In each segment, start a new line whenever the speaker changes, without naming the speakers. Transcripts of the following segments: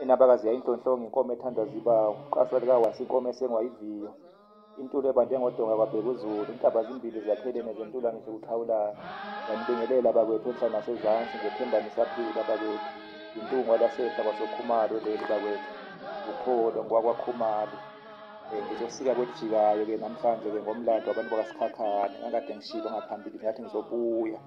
Inabakazi yayinhlonhlonga inkomo ethandwa ziba uqaswa likawasi inkomo esengwa iviyo. Intulo ebande ngodonga kwabheka uzulu, intaba zimbili zakhelene zentula ngisho ukuxhawulana. Nganibingelela bakwethu enhla nasezansi, ngethemba nisaphila bakwethu. Yintungwa lasehla kwasokhumalo leli bakwethu. Ukholo ngokwakwakhumalo. Um eh, ngizosika kwelijikayo-ke namhlanje-ke ngomlando wabantu bakasikhakhane. Ngangikade ngishilo ngaphambili ngathi ngizobuya.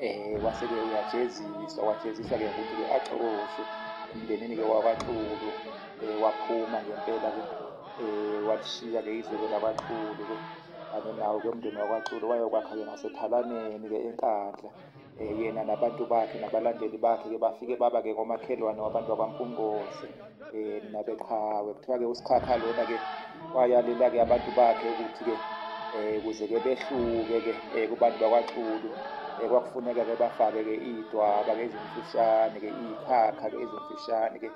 Eh waseke uyajeziswa wajeziswa ke ukuthi ke axokoshwe emndenini ke wakwaXulu eh waphuma ngempela ke eh walishiya ke izwe lakwaXulu ke ake nawo ke umndeni wakwaXulu wayokwakha ke ngasethalaneni ke eNkandla eh yena nabantu bakhe nabalandeli bakhe ke bafike baba ke komakhelwane wabantu bakwaMpungose um nabeqhawe kuthiwa-ke usikhakha lona-ke wayalela-ke abantu bakhe ukuthi-ke um kuze-ke behluke-ke um kubantu bakwaxulu um kwakufuneka-ke bafake-ke iy'dwaba-ke ezimfishane-ke iy'khakha-ke ezimfishane-ke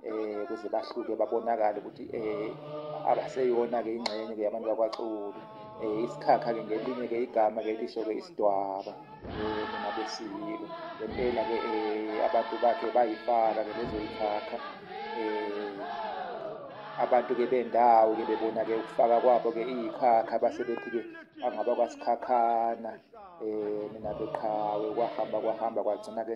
um kuze bahluke babonakale ukuthi um abaseyona-ke ingxenye-ke yabantu bakwaxulu um isikhakhake ngelinye-ke igama-ke lisho-ke isidwaba nabesiyilo ngempela ke eh, abantu bakhe bayifaka ke bezoyikhakha eh, abantu ke bendawo ke bebona ke ukufaka kwabo ke iyikhakha base bethi ke angaba kwasikhakhana um eh, nina beqhawe kwahamba kwahamba kwagcina ke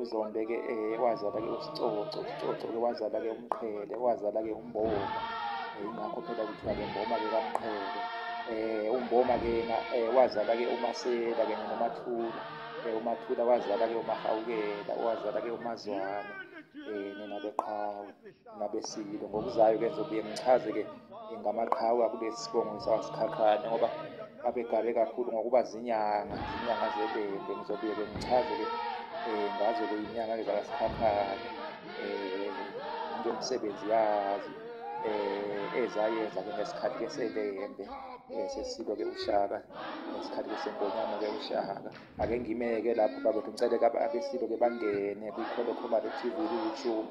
uzonde-ke um eh, wazala-ke usicoco usicoco-ke wazala-ke umqhele wazala-ke umboma yingakho phela kuthiwa-ke mboma-ke kamqhele um umboma-ke yena um wazala-ke umasela kanye nomathula um umathula wazala-ke umahawukela wazala-ke umazwane um nina beqhawe nabesililo ngokuzayo ke ngizobuye ngichaze-ke ngamaqhawe akube sibongo sawasikhakhane ngoba babegale kakhulu ngokuba zinyanga zinyanga zebembe ngizobuye ke ngichaze-ke um eh, ngazo-ke inyanga-ke zakasikhakhane um ngemisebenzi yazo um ezayenza-ke ngesikhathi-ke sebembe um sesilo-ke ushaka ngesikhathi besengonyama-ke ushaka ake ngimeke lapho babethu ngicele-ke abesilo-ke bangene kwikholokhomale tv ku-youtube